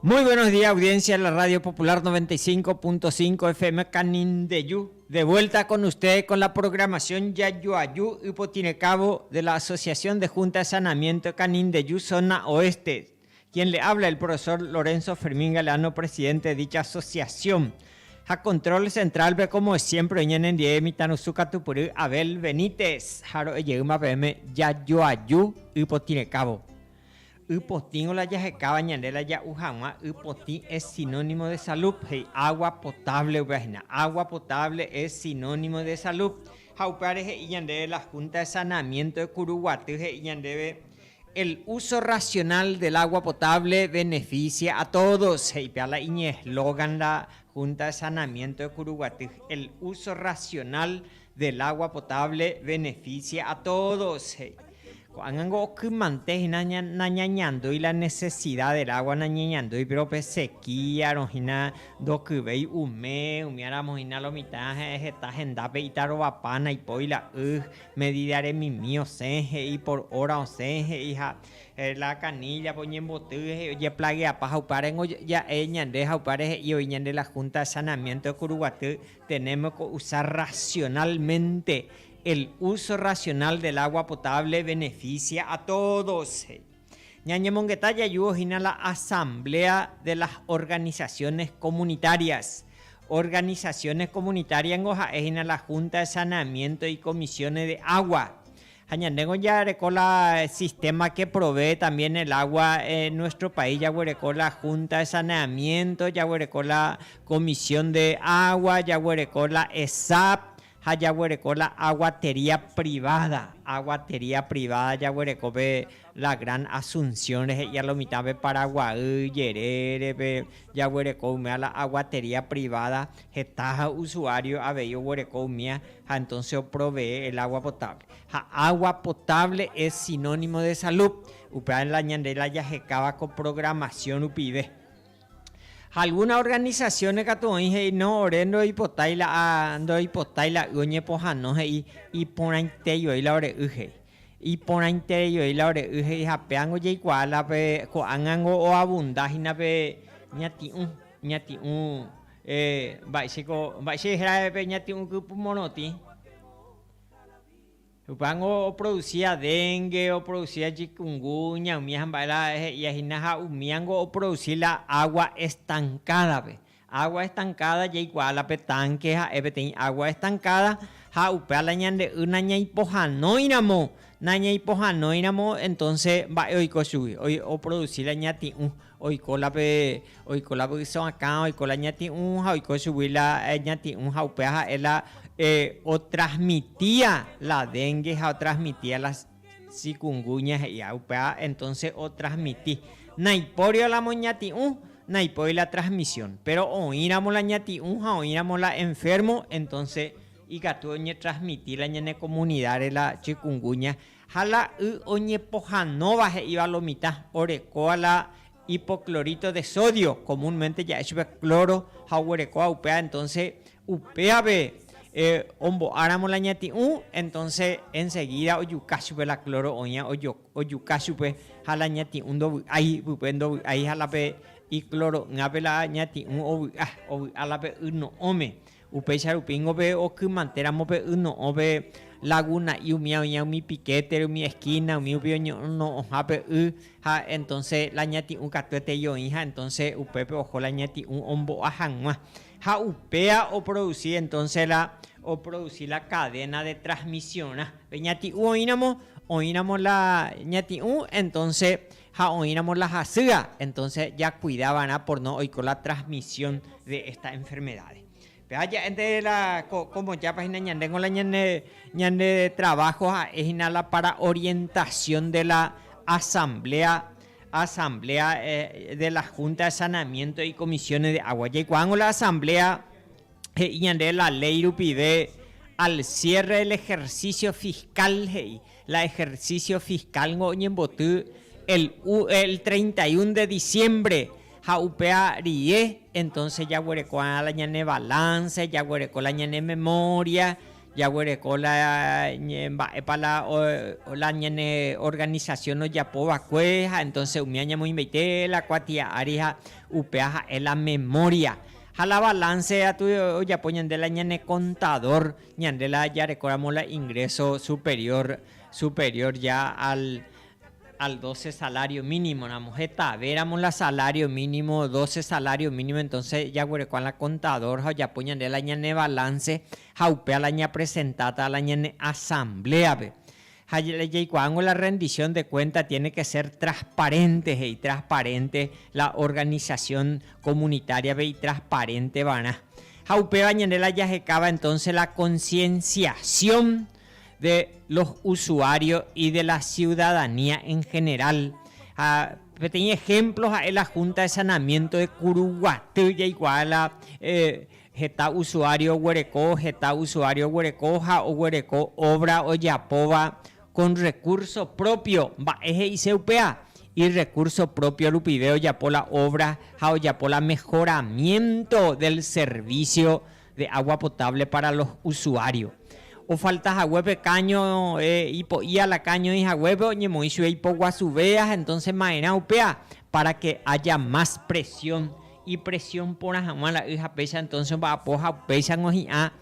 Muy buenos días audiencia de la Radio Popular 95.5 FM Canindeyu, de vuelta con ustedes con la programación Yajuaju Ypotirekávo de la Asociación de Junta de Saneamiento de Canindeyu Zona Oeste, quien le habla el profesor Lorenzo Fermín Galeano presidente de dicha asociación. Ha control central pe como siempre oñenendie mitãrusu katupyry Abel Benítez ha ro'ejeýma peẽme Yajuaju Ypotirekávo. Y potĩgõ la jahekáva ñande la ja'u hag̃ua y potĩ es sinónimo de salub, he'i agua potable upéva hína. Agua potable es sinónimo de salub. Ha upévare he'i ñandéve la Junta de Saneamiento de Curuguaty he'i ñandéve, El uso racional del agua potable beneficia a todos, he'i péva la iñeslogan la Junta de Saneamiento de Curuguaty, El uso racional del agua potable beneficia a todos, he'i. Ko'ág̃ango okymante hína nañañandúi la nesesida del água nañeñandúi, péro pe sekía rohína ndokyvéi umi, umíaramo hína lo mitã ha'e heta hendápe itarovapa naipói la y, medida remimi osẽ he'i, por hora osẽ he'i ha la caníllape oñemboty he'i ojeplageapa ha upévarengo ja'e ñande ha upévare he'i oĩ ñande la Junta de Saneamiento de Curuguaty, tenemos que usar racionalmente El uso racional del agua potable beneficia a todos, he'i. Ñañemongeta jajuhu hína la Asamblea de las Organizaciones Comunitarias. Organizaciones comunitarias ningo ha'e hína la Junta de Saneamiento y Comisiones de Agua. Ha ñandéngo jareko la sistema que provee también el agua en nuestro país, jaguereko la Junta de Saneamiento, jaguereko la Comisión de Agua, jaguereko la ESAP, Ha jaguereko la aguatería privada, aguatería privada jaguereko pe la Gran Asunción rehe ia lo mitã pe Paraguay jerére pe jaguereko umía la aguatería privada heta ha usuario avei oguereko umía ha entonces o provee el agua potable. Ha agua potable es sinónimo de salud, upéva la ñande la jahekáva ko programación rupive. Ha algúna organisasióne katu oĩ he'i no, ore ndoipotái la a ndoipotái la y oñepohãno he'i iporãite joi la ore y he'i. Iporãitere joi la ore y he'i ha péango jaikuaa la pe ko'ág̃ango oabunda hína pe ñati'ũ, ñati'ũ mba'éichako mba'éichai héra pe ñati'ũ kypymorotĩ. Upévango oproducía dengue, oproducía chikungunya, umi ha mba'éra he'ía hína ha umíango oproduci la agua estancada-pe. Agua estancada jaikuaa la pe tanque ha'e peteĩ agua estancada ha upéva la ñande y nañaipohãnoiramo, nañaipohãnoiramo entonce mba'e oiko chugui, oproduci la ñati'ũ. Oiko la pe, oiko la vyso akã, oiko la ñati'ũ ha oiko chugui la ñati'ũ ha upéva ha'e la otrasmitia la dénge ha otrasmitia la chikunguña he'íva. Upéva entónse otrasmiti. Naipóri la moñati'ũ, naipóri la trasmisión. Péro oĩramo la ñati'ũ ha oĩramo la enférmo, entónse ikatu oñetrasmiti la ñane komunidáre la chikunguña Ha la y oñepohanóva he'íva lo mitã orekóva la hipoclorito de sodio, comúnmente ja'e chupe cloro, ha oguerekóva upéva, entonces upévape ombo'áramo la ñati'ũ, entonces enseguida ojuka chupe la cloro oĩva ojuka chupe ha la ñati'ũ ndovy'ái pype, ndovy'ái ha la pe icloro'ỹape la ñati'ũ ovy'a, ovy'a la pe y no'õme. Upéicha rupíngo pe okymante ramo pe y no'õ pe laguna'i umi oĩva umi piquete-re, umi esquina, umi rupi oñono'õha pe y, ha entonce la ñati'ũ katu etei oĩ, ha entonce upépe oho la ñati'ũ ombo'a hag̃ua. Ha upéva oproduci entonce la, oproduci la cadena de transmisionrã. Pe ñati'ũ oĩramo, oĩramo la ñati'ũ, entonce ha oĩramo la hasýa, entonce jakuida va'erã por no oiko la transmisión de esta enfermedad. Péva ja'e nde la ko, como jápa hína ñande ko la ñane, ñande trabajo ha'e hína la para orientación de la asamblea, asamblea de la junta de saneamiento y comisiones de agua. Jaikuaángo la asamblea he'i ñande la ley rupive al cierre del ejercicio fiscal he'i. La ejercicio fiscal-ngo oñemboty el u el treinta y un de diciembre, ha upéva rie entonce jaguereko va'erã la ñane balance, jaguereko la ñane memoria, jaguereko la mba'épa la la ñane organización ojapo va'ekue ha entonce umi añemoĩmbaite la kuatia ári ha upéva ha'e la memoria. Ha la balance atu ojapo ñande la ñane contador. Ñande la jarekóramo la ingreso superior, superior ya al, al doce salario mínimo ramo, hetave ramo la salario mínimo, doce salario mínimo, entonce jaguerekóa la contador ha ojapo ñande la ñane balance ha upéva la ñapresentáta la ñane asambléape. Ha la jaikuaángo la rendición de cuenta tiene que ser transparente he'i, transparente la organización comunitaria-pe itransparente va'erã. Ha upéva ñande la jahekáva entonces la concienciación de los usuarios y de la ciudadanía en general. Ha peteĩ ejemplo ha'e la Junta de Sanamiento de Curuguaty jaikuaa la Heta usuario oguereko Heta usuario oguereko ha oguereko obra ojapóva con recurso propio. Mba'e he'ise upéva? Irrecurso propio rupive ojapo la obra ha ojapo la mejoramiento del servicio de agua potable para los usuario. Ofalta haguépe caño ipo'íala caño oĩ haguépe oñemoĩ chupe ipoguasuvéva entonces ma'erã upéva. Pára ke aja más presión, ipresión porã hag̃ua la y ha péicha entónse omba'apo ha upéicharõ hi'ã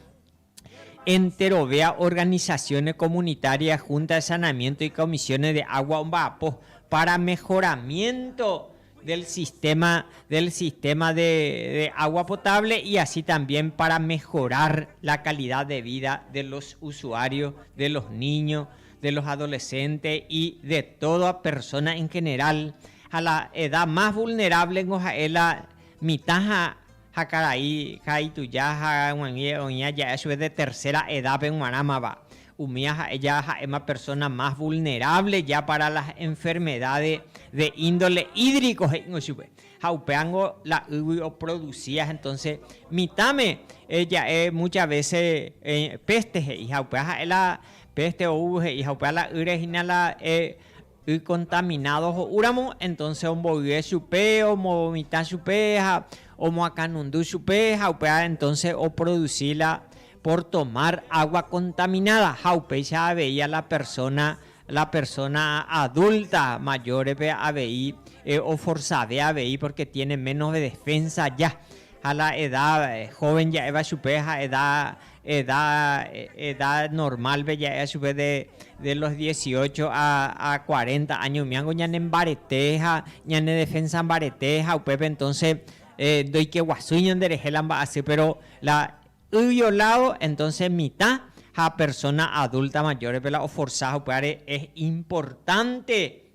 enterovéva organisaciones comunitarias, Junta de Saneamiento y Comisiones de Agua omba'apo pára mejoramiento del sistema, del sistema de agua potable y así también para mejorar la calidad de vida de los usuarios, de los niños, de los adolescentes y de toda persona en general, ha la edad más vulnerable niko ha'e la mitã ha ha karai ha ituja ha yvagui oĩ aja'a chupe de tercera edad-pe g̃uarãmava, umía ha'e ja ha'éma persona más vulnerable ya para las enfermedades de índole hídrico he'ingo chupe, ha upéva niko la ýgui oproducía entonces mitãme ja'e muchas veces peste he'i ha upéva ha'e la Peste oúvo he'i ha upéva la ýre hína la y contaminádo ho'úramo, entonce omboyve chupe, omovomitã chupe ha omoakãnundu chupe ha upéva entonce oproduci la por tomar agua contaminada ha upéicha avei a la persona, la persona adulta mayor-pe avei oforsave avei porque tiene menos defensa ya ha la edad joven ja'éva chupe ha edad Edad, edad normal pe ja'éva chupe de, de los dieciocho a, a cuarenta año umiángo ñane mbarete ha ñane defensa mbarete ha upépe entonce ndoikeguasúi ñanderehe la mba'asy péro la y violado entonce mitã ha persona adulta mayor-pe la oforsa ha upévare es importante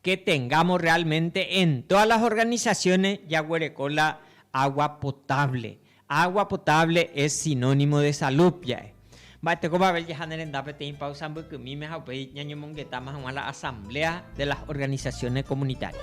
que tengamos realmente en todas las organizaciones jaguereko la agua potable. Agua potable es sinónimo de salud ja'e. Mba'e tekopave jaha ne renda peteĩ pausa mbykymíme ha upéi ñañomongetáma hag̃ua la asamblea de las organizaciones comunitarias.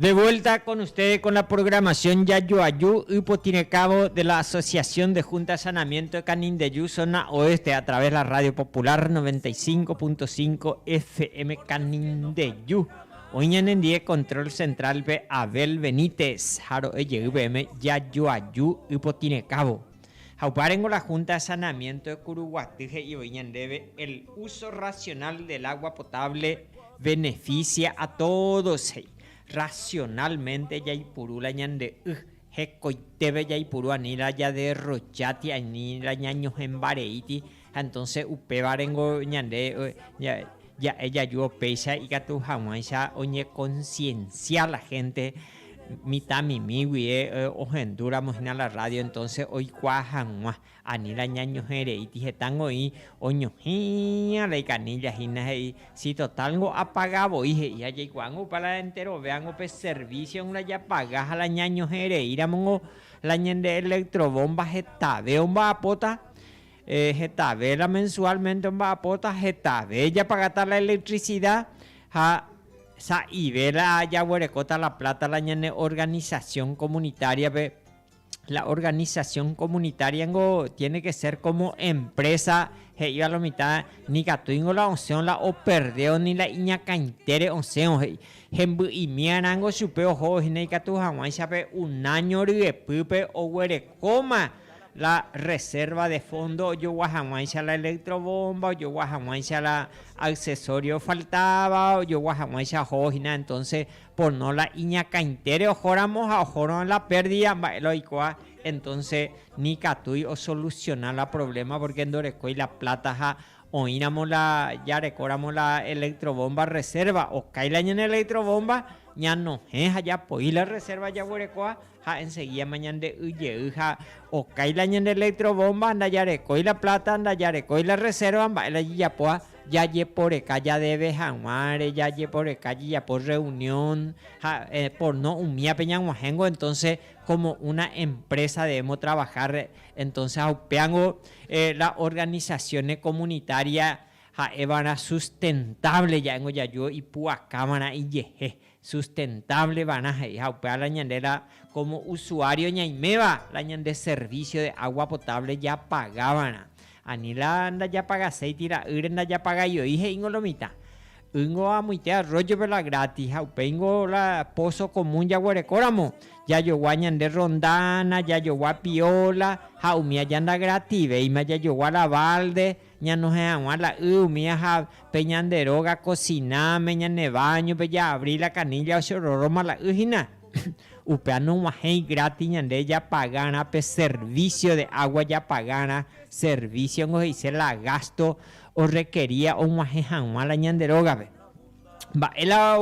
De vuelta con ustedes con la programación Yayoayu y Potirecabo de la Asociación de Junta de Sanamiento de Canindeyu, zona oeste, a través de la Radio Popular 95.5 FM Canindeyu. Hoy ñanendie control central pe Abel Benítez, Jaro Eyeu PM Yayoayu y Potirecabo. Ha upárengo la Junta de Saneamiento de Curuguaty he'i voi ñandéve el uso racional del agua potable beneficia a todos he'i. Racionalmente jaipuru la ñande y, hekoitépe jaipuru ani la jaderrocha ti ani la ñañohẽmbareíti Ha entonce upévare niko ñande ja'e jajúvo péicha ikatu haguãicha oñeconciencia la gente mitãmimi guie ohendu ramo hína la radio entonce oikua haguã ani la ñañohereíti heta ngoĩ oñohĩya la icanilla hína he'i si total ngo apaga voi he'i ha jaikuaa ngo upa la enterovea ngo pe servicio la japaga ha la ñañohereíramo ngo la ñande electro bomba hetave omba'apóta Heta véla mensualmente omba'apóta, hetave japagata la electricidad ha sa'i véla jaguerekóta la plata la ñane organización comunitaria-pe. La organización comunitaria ningo tiene que ser como empresa he'íva la mitã, nikatúingo la osẽo la operdéo ni la iñakãitére osẽo he'i. Hemby'imíarã ningo chupe ohóvo hína ikatu hag̃uáicha pe un año ryepýpe oguerekóma la reserva de fondo ojogua hag̃uáicha la electrobomba, ojogua hag̃uáicha la accesorio ofaltáva, ojogua hag̃uáicha ohóvo hína, entonce por no la iñakãitére ohóramo ha ohórõ la pérdida mba'e la oikóva, entonce ni katúi osolusiona la problema porque ndorekói la plata ha oĩramo la jarekóramo la electrobomba reserva, okái la ñane electrobomba ñanohẽ ha japoi la reserva jaguerekóva. ha enseguídama ñande y jey ha okái la ñande electrobomba, ndajarekói la plata, ndajarekói la reserva mba'e la jejapóva, jajeporeka jadeve haguãre, jajeporeka jejapo reunión ha porno umíape ñag̃uahẽngo entonce como una empresa debemos trabajar, entonce ha upéango la organizaciones comunitarias ha'éva'erã sustentable ja'éngo jaju ipu'akáva'erã ijehe, Sustentable va'erã he'i ha upéva la ñande la como usuario ñaiméva la ñande servicio de agua potable japaga va'erã. Ani la ndajapagaséi tira'ýre ndajapagajo'i he'íngo lo mitã. Ýngo amoite arroyo-pe la gratis ha upéingo la pozo común jaguereko ramo jajogua ñande rondana, jajogua piola ha umi aja nda gratis-véima jajogua la balde, Ñanohẽ hag̃ua la y umi aja pe ñande róga kosináme, ñane váñope jaabri la kanílla ochororoma la y hína. Upéva nog̃uahẽi grátis ñande japagárã pe servísio de água japagárã, servísiongo he'ise la gásto orrekeria og̃uahẽ hag̃ua la ñande rógape. Mba'e la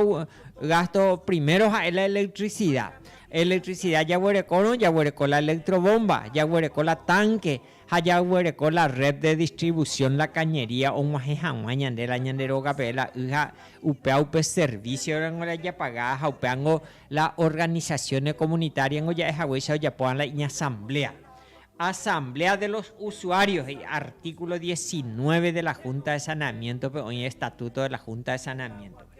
gásto? Primero ha'e la elektricida. Elektricida jaguerekórõ, jaguereko la elektrovómba, jaguereko la tánke. Ha jayguereko la red de distribución La Cañería og̃uahẽ hag̃ua ñande la ñande rógape la y ha upéva upe servicio rango la japaga ha upévango la organizaciones comunitarias ningo ja'e haguéicha ojapóva la iñasamblea. Asamblea de los usuarios he'i artículo diecinueve de la Junta de Saneamiento-pe oĩ Estatuto de la Junta de Saneamiento-pe.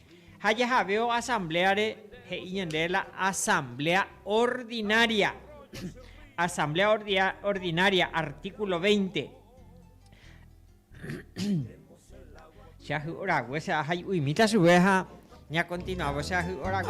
Ha jahaveo asambléare, he'i ñandéve la asambléa ordinaria. Asambléa ordinaria, artíkulo veinte. Che ahy'o rague che ahay'uimíta chuve ha ñakontinuávo che ahy'o rague.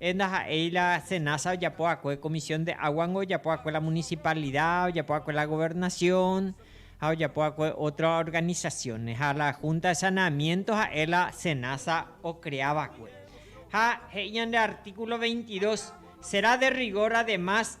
Él ndaha'éi la Senasa ojapo va'ekue Comisión de Aguas-ngo ojapo va'ekue la Municipalidad, ojapo va'ekue la Gobernación ha ojapo va'ekue otro organizaciones. Ha la Junta de Saneamiento ha'e la Senasa ocrea va'ekue. Ha he'i ñande artículo 22, Será de rigor además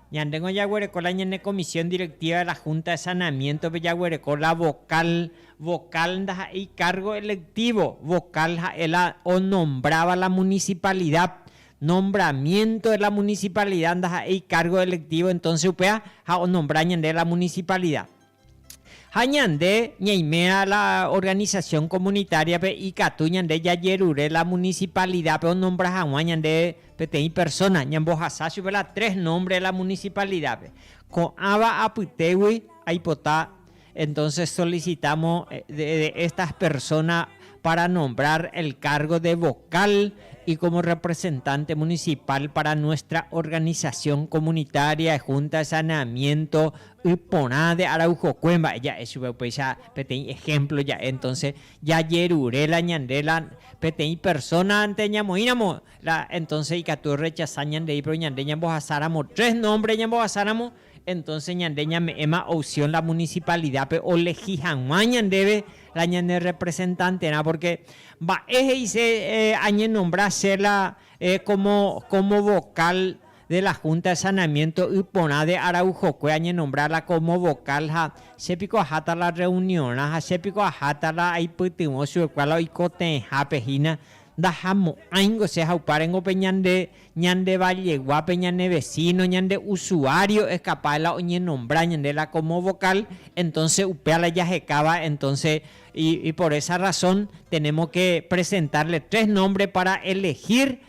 Ñandéngo jaguereko la ñane comisión directiva de la Junta de Saneamiento-pe jaguereko la vocal, vocal ndaha'éi cargo electivo, vocal ha'e la onombráva la municipalidad, nombramiento de la municipalidad ndaha'éi cargo electivo entonce upéva ha onombra ñande la municipalidad. Ha ñande ñaimérã la organización comunitaria-pe ikatu ñande jajerure la municipalidad-pe onombra hag̃ua ñande peteĩ persona, ñambohasa chupe la tres nombre la municipalidad-pe. Ko'ãva apytégui aipota entonces solicitamos de estas personas para nombrar el cargo de vocal y como representante municipal para nuestra organización comunitaria y junta de saneamiento Y porã de Araujokue mba'e ja'e chupe upéicha peteĩ ejemplo ja'e entonces jajerure la ñande la peteĩ persona-nte ñamoĩramo la entonces ikatu orrechasa ñandéi pero ñande ñambohasáramo tres nombre ñambohasáramo entonces ñande ñame'ẽma opción la municipalidad-pe olegi hag̃ua ñandéve la ñane representante-rã porque mba'e he'ise añenombra che la como como vocal de la Junta de Saneamiento y porã de Araujokue añenombrarla como vocal ha che piko aháta la reuniorã ha che piko aháta la aipytyvõ chugekua la oikotevẽhápe hína ndahamo'ãingo che haupárengope ñande ñande valleguápe ñane vecino ñande usuario es capaz de la oñenombra ñande la como vocal entonces upéva la jahekáva entonces y por esa razón tenemos que presentarle tres nombres para elegir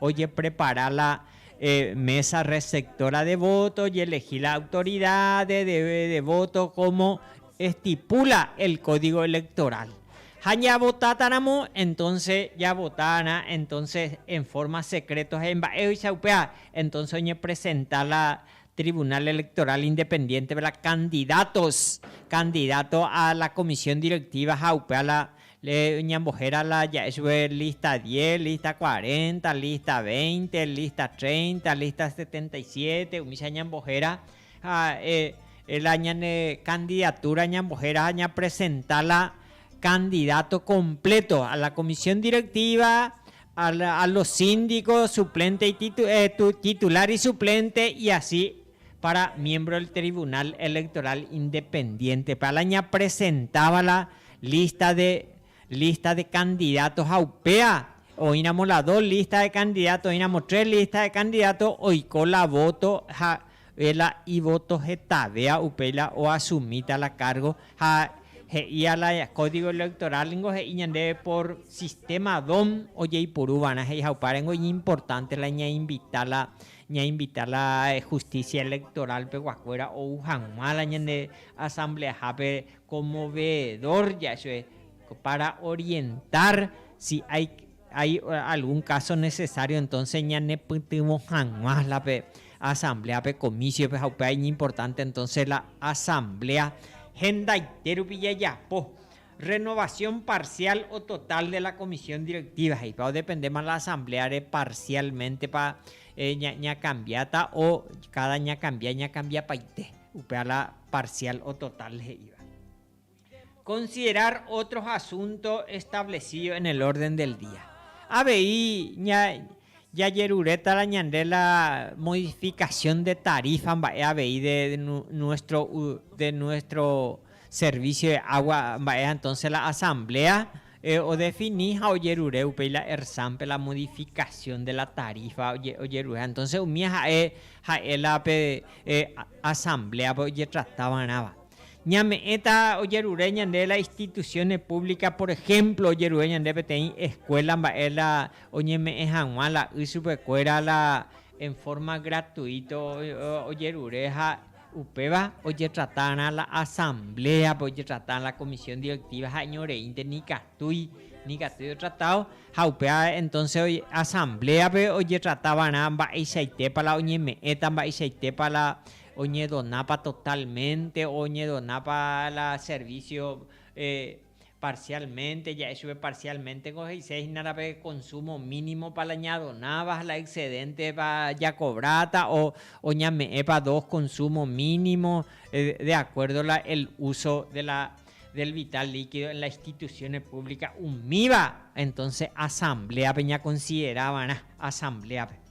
ojeprepara la mesa receptora de voto, ojelegí la autoridad de voto como estipula el código electoral. Ha ñavotáta ramo, entonces javota va'erã entonces en forma secreto ha imba'éicha upéva, entonces oñepresenta la Tribunal Electoral Independiente-pe la candidatos, candidato a la Comisión Directiva ha upéva la Ñambohéra la ja'e chupe lista diez, lista cuarenta, lista veinte, lista treinta, lista setenta y siete, umícha ñambohéra ja'e la ñane candidatura ñambohéra ha ñapresenta la candidato completo a la comisión directiva, a los síndicos, suplente y titular y suplente y asi. Para miembro del Tribunal Electoral Independiente, pe ala ñapresentáva la lista de lista de candidatos ha upéva oĩramo la dos lista de candidatos, oĩramo tres lista de candidatos, oiko la voto ha oĩ la ivoto hetavéva upéi la o asumíta la cargo ha he'i a la Código Electoral ningo he'i ñandéve por sistema DOM ojeipuru va'erã he'i ha upévare ningo iñimportante la ñainvita la Ñainvita la Justicia Electoral peguakuéra ou hag̃ua la ñane Asambleahápe como veedor ja'e para orientar si hay hay algún caso necesario entonces ñanepytyvõ hag̃ua la pe Asamblea pe Comisiope ha upéva iñimportante entonces la Asamblea hendaite rupi jajapo Renovación parcial o total de la comisión directiva he'ipa odependéma la asambléare parcialmente-pa ñakambiáta o káda ñakambia ñakambiapaite, upéva la parcial o total he'íva. Considerar otros asuntos establecidos en el orden del día. Avei ña jajerurétara ñande la modificación de tarifa mba'e avei de nuestro, de nuestro servicio de agua mba'e, entonces la asamblea odefini ha ojerure upéi la ERSAM-pe la modificación de la tarifa ojerure. Entonces umíva ja'e, ja'e la pe asamblea-pe ojetrata va'erãva. Ñame'ẽta ojerure ñande la instituciones públicas, por ejemplo, ojerure ñande peteĩ escuela mba'e la Oñeme'ẽ hag̃ua la y chupekuéra la en forma gratuito ojerure ha upéva ojetratarã la asambléape, ojetrata la comisión directiva ha'eño reínte nikatúi, nikatúi otratado ha upéva entonce asambléape ojetratavarã mba'eichaitépa la oñeme'ẽta, mba'eichaitépa la oñedonápa totalmente, oñedonápa la servicio Parcialmente ja'e chupe parcialmente ko he'ise hína rã pe consumo mínimo pa la ñadonáva ha la excedente pa jakobráta o oñame'ẽpa dos consumo mínimo de acuerdo la el uso de la del vital líquido en la instituciones públicas umíva entonces asambleape ñakonsiderá va'erã asambleape.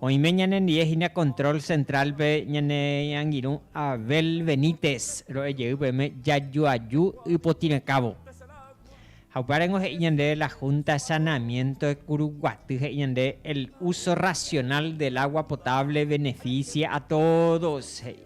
Oime ñanendie hína control central-pe ñane angirũ Abel Benítez ro'e jey peẽme jajoaju ypotĩrãkávo. Ha upévarengo he'i ñande la Junta de Saneamiento de Curuguaty he'i ñande el uso racional del agua potable beneficia a todos he'i.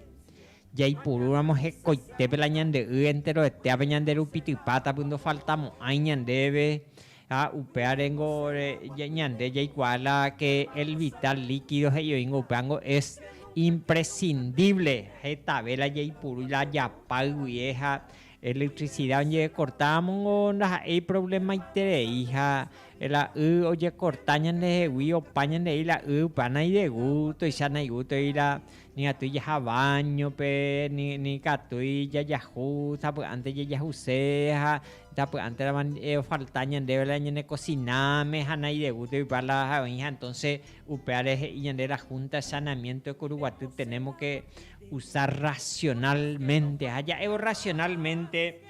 Jaipurúramo hekoitépe la ñande y enteroetéape ñande rupitypáta py ndofaltamo'ãi ñandéve Ha upévare ngo ñande jaikuaa la que el vital líquido he'i oingo upéva ngo es imprescindible hetave la jaipurúi la japáy guie ha electricidad oñecortávamo ngo ndaha'éi problemaiterei ha la y ojecorta ñandehegui opa ñandehegui la y upéva naidegútoicha naigútoi la Ni atýi jaha báñope, ni katúi jajahu sapy'ánte jajahuse ha sapy'ánteramo ofalta ñandéve la ñanekosináme ha nairegúta oipa la ha oĩha. Entónse upévare he'i ñande la Húnta de Sanamiénto de Kuruguaty, tenémo ke usa rrasionálmente ha ja'évo rrasionálmente.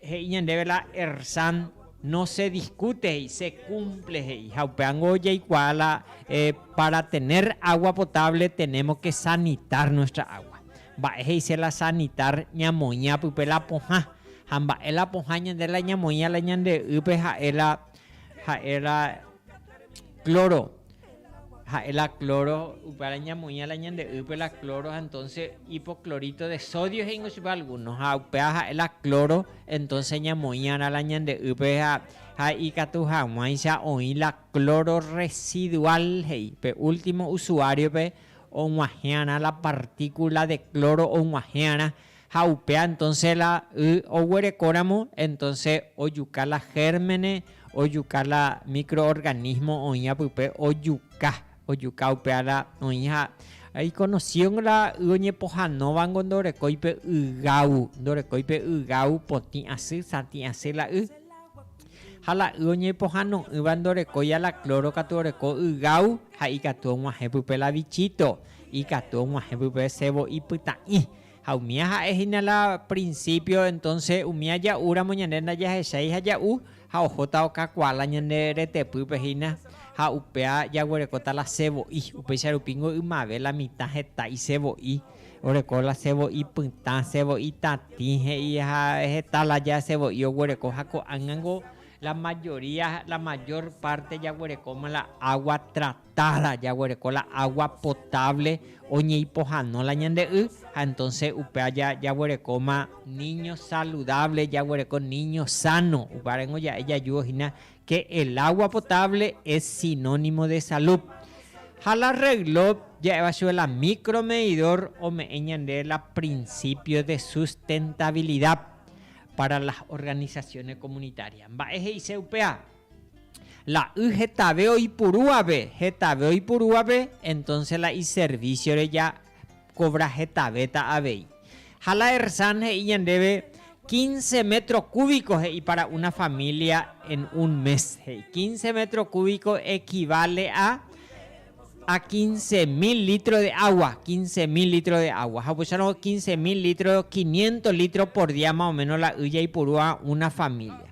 He'i ñandéve la Ersan, No se discute he'i, se cumple he'i. Ha upévango jaikuaa la para tener agua potable tenemos que sanitar nuestra agua. Mba'e he'ise la sanitar ñamoĩva pype la pohã. Ha mba'e la pohã ñande la ñamoĩva la ñande y'ýpe ha'e la ha'e la cloro, ha'e la cloro, upévare ñamoĩva la ñande ýpe la cloro, entonces hipoclorito de sodio he'íngo chupe alguno, ha upéva ha'e la cloro, entonces ñamoĩva'erã la ñande ýpe ha, ha ikatu hag̃uáicha oĩ la cloro residual he'i, pe último usuario-pe og̃uahẽ'arã la partícula de cloro og̃uahẽ'arã, Ha upéa entonce la y oguerekóramo entonce ojuka la gérmene, ojuka la microorganismo oĩva pype ojuka, ojuka upéa la oĩ ha iconocido la y oñepohanóvango ndorekói pe ygau, ndorekói pe ygau potĩ asy, satĩ asy la y. Ha la y oñepohano'ỹva ndorekói a la cloro katu oreko ygau ha ikatu og̃uahẽ pype la bichito, ikatu og̃uahẽ pype sebo ipyta'ĩ. Ha umía ha'e hína la prinsípio, entónse umi aja'úramo ñande ndajahechái ha ja'u, ha ohóta okakuaa la ñande retepýpe hína, ha upéva jaguerekóta la sevo'i, upéicha rupíngo ymave la mitã heta isevo'i, oreko la sevo'i pytã, sevo'i tatĩ he'i, ha heta la ja sevo'i oguereko, ha ko'ág̃ango la mayoría, la mayor parte jaguerekóma la agua tratada. Tárã jaguereko la agua potable oñeipohano la ñande y ha entonces upéva jaguerekóma niño saludable, jaguereko niño sano. Upárengo ja'e jajúvo hína que el agua potable es sinónimo de salud. Ha la reloj ja'éva chupe la micro medidor ome'ẽ ñande la principio de sustentabilidad para las organizaciones comunitarias. Mba'e he'ise upéva? La y hetave oipurúvape, hetave oipurúvape, entonces la iserviciore ja cobra hetavéta avei. Ha la Ersan he'i ñandéve, Quince metro cúbico he'i para una familia en un mes, he'i. Quince metro cúbico equivale a Ha quince mil litro de agua, quince mil litro de agua. Ha upéicharõ quince mil litro, quinientos litro por día más o menos la y jaipurúva una familia.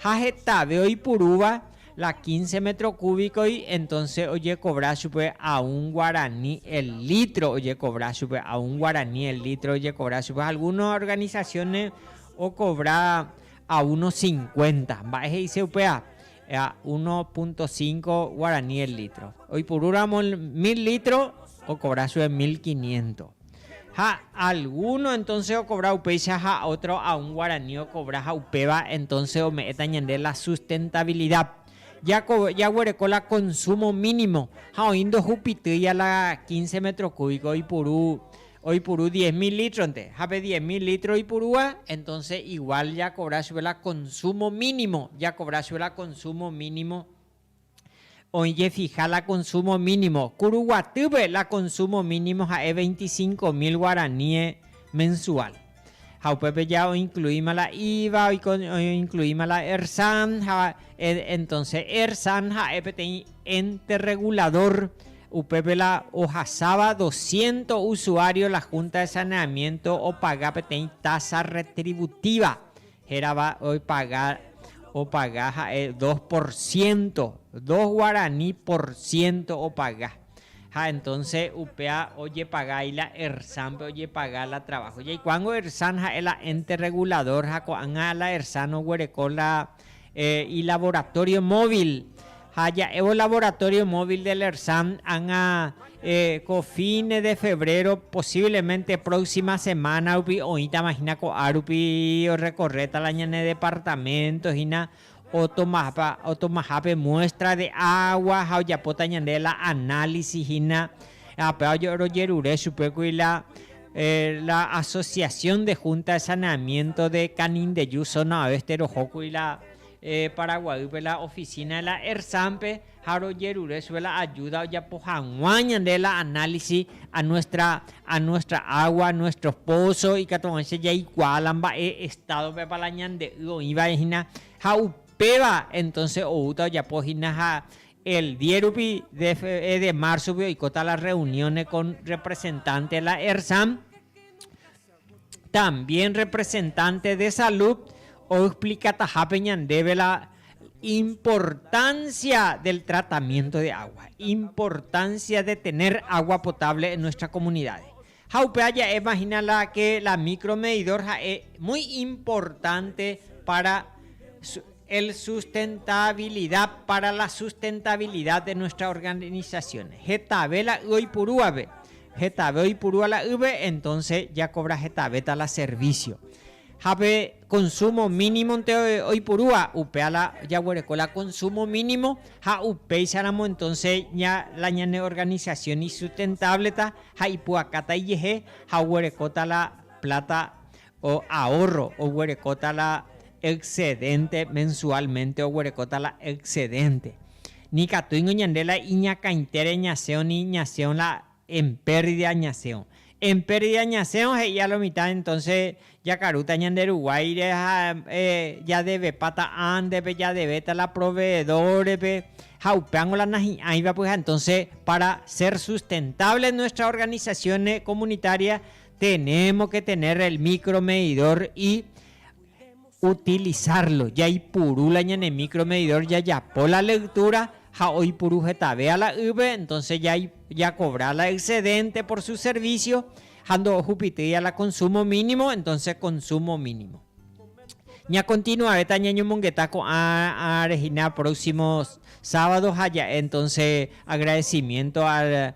Ha hetave oipurúva la quince metro cúbico-gui, entonces ojecobra chupe a un guarani el litro, ojecobra chupe, a un guarani el litro ojecobra chupe. Ha algunos organizaciones ocobra a uno cincuenta. Mba'e he'ise upéva? Ea 1.5 guarani el litro. Oipuru ramo el mil litro ocobra chuve mil quiniento. Ha alguno entonces ocobra upéicha ha otro a un guarani ocobra ha upéva entonces ome'ẽta ñande la sustentabilidad. Jaguereko la consumo mínimo ha oĩ ndohupitýi a la quince metro cúbico oipuru Oipuru diez mil litro-nte, ha pe diez mil litro oipurúva, entonce igual jakobra chupe la consumo mínimo, jakobra chupe la consumo mínimo, oĩ jefija la consumo mínimo. Ko Ruguatýpe la consumo mínimo ha'e veinticinco mil guaraníes mensual. Ha upépe ja oincluíma la iva, oincluíma la ERSAN, ha entonce ERSAN ha'e peteĩ ente regulador, upépe la ohasáva doscientos usuario la Junta de Saneamiento opaga peteĩ tasa retributiva, Hérava oipaga, opaga ha'e dos por ciento, dos guarani por ciento opaga. Ha entonce upéva ojepaga ahí la ERSAN-pe ojepaga la trabajo. Jaikuaángo ERSAN ha'e la ente regulador ha ko'ág̃a la ERSAN oguereko la ilaboratorio móvil ha ja'évo Laboratorio Móvil de LERSAM ág̃a ko fines de febrero, posiblemente próxima semana rupi oĩtama hína ko'ã rupi orrecorréta la ñane departamento hína, otomahápe muestra de agua ha ojapóta ñande la análisis hína, apéva rojerure chupégui la Asociación de Junta de Saneamiento de Canindeyú zona oeste rohókuri la Paraguaýpe la oficina de la ERSAM-pe ha rojerure chupe la ayuda ojapo hag̃ua ñande la análisis a nuestra, a nuestra agua, a nuestros pozos ikatu hag̃uáicha jaikuaa la mba'e estado-pepa la ñande y oĩvare hína ha upéva entonces oúta ojapo hína ha el diez rupi de fe, de marzo-gui oikóta la reunione con representante de la ERSAM, También representante de salud oexplicatahápe ñandéve la importancia del tratamiento de agua, importancia de tener agua potable en nuestra comunidades. Ha upéva ja'éma hína la que la micro medidor ha'e muy importante para El sustentabilidad para la sustentabilidad de nuestra organización, hetave la y oipurúvape, hetave oipurúva la yve entonces jakobra hetavéta la servicio. Ha pe consumo mínimo nte oipurúva, upéva la jaguereko la consumo mínimo ha upéicharamo entonces la ñane organización isustentable-ta ha ipu'akáta ijehe ha oguerekóta la plata O ahorro oguerekóta la excedente, mensualmente oguerekóta la excedente. Nikatúingo ñande la iñakãitére ñasẽo ni ñasẽo la en pérdida ñasẽo. En pérdida ñasẽo he'i a lo mitad entonce jakarúta ñande ruguáire ha jadevepa ta'ãndepe, jadevéta la proveedor-pe ha upéango la nahi'ãiva pyhare. Entonce para ser sustentable nuestra organización comunitaria Tenemos que tener el micro medidor y utilizarlo. Jaipuru la ñane micro medidor jajapo la lectura ha oipuru hetave ala yve, entonces ya ya cobra la excedente por su servicio ha ndo'ohu pitýi ala consumo mínimo, entonces consumo mínimo. Ña continuareta ñañomongeta ko'ã rehina próximo sábado ha ja'e entonces agradecimiento al